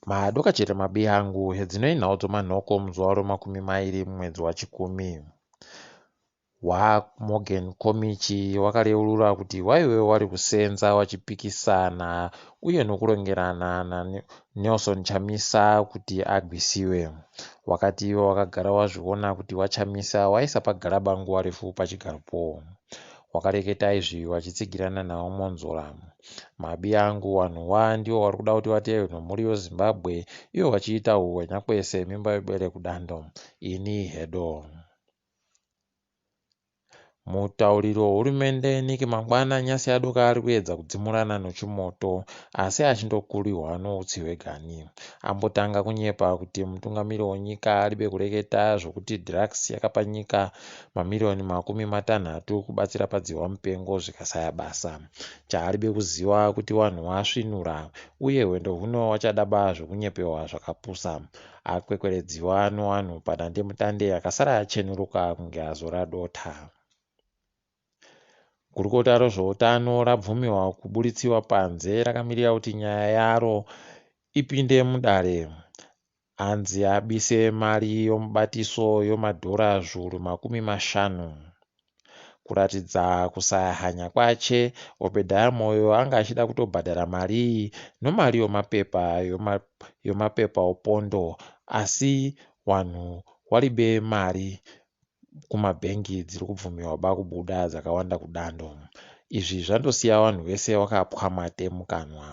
Madoka chete mabi angu, hedzinoi nhau dzomanhoko muzuva romakumi mairi mumwedzi wachikumi. WaMorgan Komichi wakareurura kuti waive wari kusenza wachipikisana uye nokurongerana naNelson Chamisa kuti agwisiwe. Wakati iwe wakagara wazviona kuti waChamisa waisa pagaraba nguva refu pachigaropo. Wakareketa izvi wachitsigirana nawo Mwonzora. Mabi angu wanhu wa ndiwo wari kuda kuti vateerwe nomhuri yo Zimbabwe iwo wachiita huhwenya kwese mimba yobele kudando. Ini hedo. Mutauriri wehurumende Nick Mangwana nyasi yadoka ari kuedza kudzimurana nochimoto asi achindokurihwa noutsi hweganhi. Ambotanga kunyepa kuti mutungamiri wonyika aribe kureketa zvokuti drugs yakapa nyika mamiriyoni makumi matanhatu kubatsira padzihwa mupengo zvikasaya basa. Chaaribe kuziva kuti wanhu wasvinura uye hwendo huno wachadaba zvekunyepewa zvakapusa. Akwekweredziwa nowanhu padandemutande akasara yachenuruka kunge azora dota. Gurukota rozvoutano rabvumiwa kuburitsiwa panze rakamirira kuti nyaya yaro ipinde mudare. Anzi abise mari yomubatiso yomadhora zviuru makumi mashanu. Kuratidza kusaya hanya kwache, Obedaya Moyo anga achida kutobhadhara mari iyi nomari yomapepa yoma, yomapepa opondo asi wanhu waribe mari kumabhengi dziri kubvumiwa ba kubuda dzakawanda kudando. Izvi zvandosiya wanhu wese wakapwa mate mukanwa.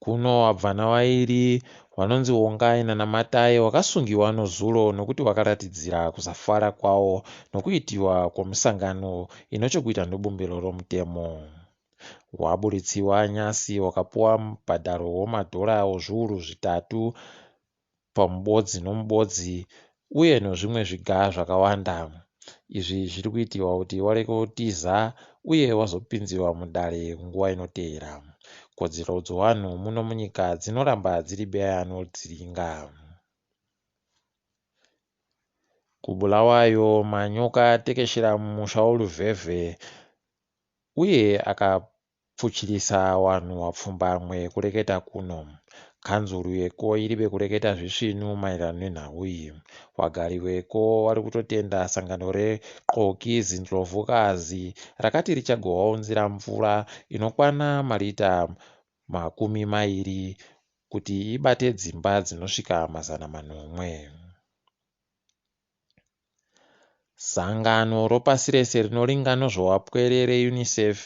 Kuno wabvana wairi wanonzi Wongai naNamatai wakasungiwa nozuro nokuti wakaratidzira kusafara kwawo nokuitiwa kwomusangano ino chokuita nobumbiro romutemo. Waburitsiwa nyasi wakapuwa mubhadharo womadhora ozviuru zvitatu pamubodzi nomubodzi uye nozvimwe zviga zvakawanda. Izvi zviri kuitirwa kuti warege kutiza uye wazopinziwa mudare nguva inoteera. Kodzero dzowanhu muno munyika dzinoramba dziri beyanoldziringa. KuBulawayo, manyoka atekeshera mumusha woLuvhevhe uye akapamba Pfuchirisa wanhu wapfumbamwe kureketa kuno. Kanzuru yeko iribe kureketa zvisvinu maererano nenhau iyi. Wagari weko warikutotenda sangano re Xoki Zindlovukazi rakati richagowaunzira mvura inokwana marita makumi mairi kuti ibate dzimba dzinosvika mazana manomwe. Sangano ropasi rese rinoringa nozvowapwere reUNICEF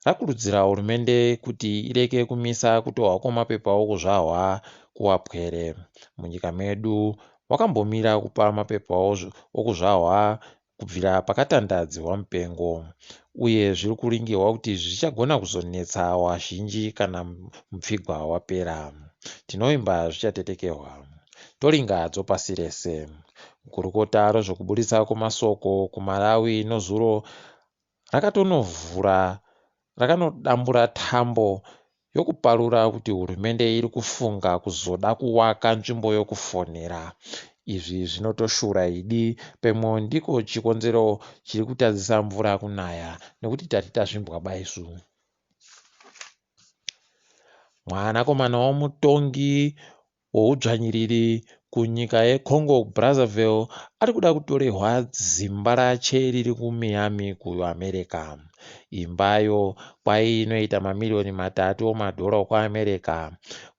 rakurudzira hurumende kuti ireke kumisa kutohwa kwemapepauko zvahwa kuwapwere munyika medu wakambomira kupa mapepao okuzvahwa kubvira pakatandadzihwa mupengo uye zviri kuringirwa kuti zvichagona kuzonetsa wazhinji kana mupfigwa wapera tinovimba zvichatetekehwa Tolinga hadzo pasi rese. Gurukota rezvekuburitsa kwemasoko kuMalawi nozuro rakatonovhura rakanodambura tambo yokuparura kuti hurumende iri kufunga kuzoda kuwaka nzvimbo yokufonera. Izvi zvinotoshura idi pemwo ndiko chikonzero chiri kutadzisa mvura kunaya nekuti tati tazvimbwa baisu. Mwanakomana womutongi weudzvanyiriri kunyika yeCongo Brazzaville ari kuda kutorehwa zimba rache riri kuMiami kuAmerica. Imbayo kwaye inoita mamiriyoni matatu omadhora okuAmerica.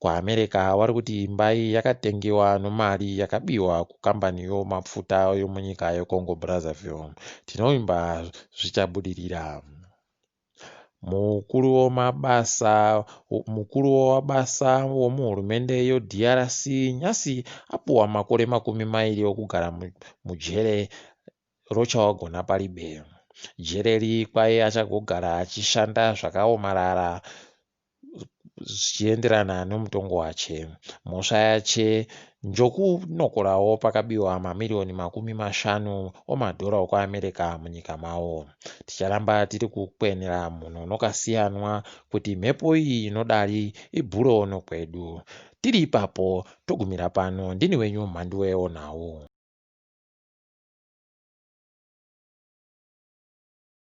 KuAmerica vari kuti imba iyi yakatengewa nomari yakabiwa kukambani yomapfuta yomunyika yeCongo Brazzaville. Tinovimba zvichabudirira. Mukuru wemabasa mukuru wemabasa wemuhurumende yeDRC nhasi apuwa makore makumi mairi okugara mujere roChawagona Paribe. Jere iri kwaye achagogara achishanda zvakaomarara zvichienderana nomutongo wache. Mhosva yache njokunokorawo pakabiwa mamiriyoni makumi mashanu omadhora okuAmerica munyika mawo. Ticharamba tiri kukwenera mhuno nokasiyanwa kuti mhepo iyi inodari ibhure ono kwedu. Tiri ipapo, togumira pano. Ndini wenyu Mhanduwe Onhau.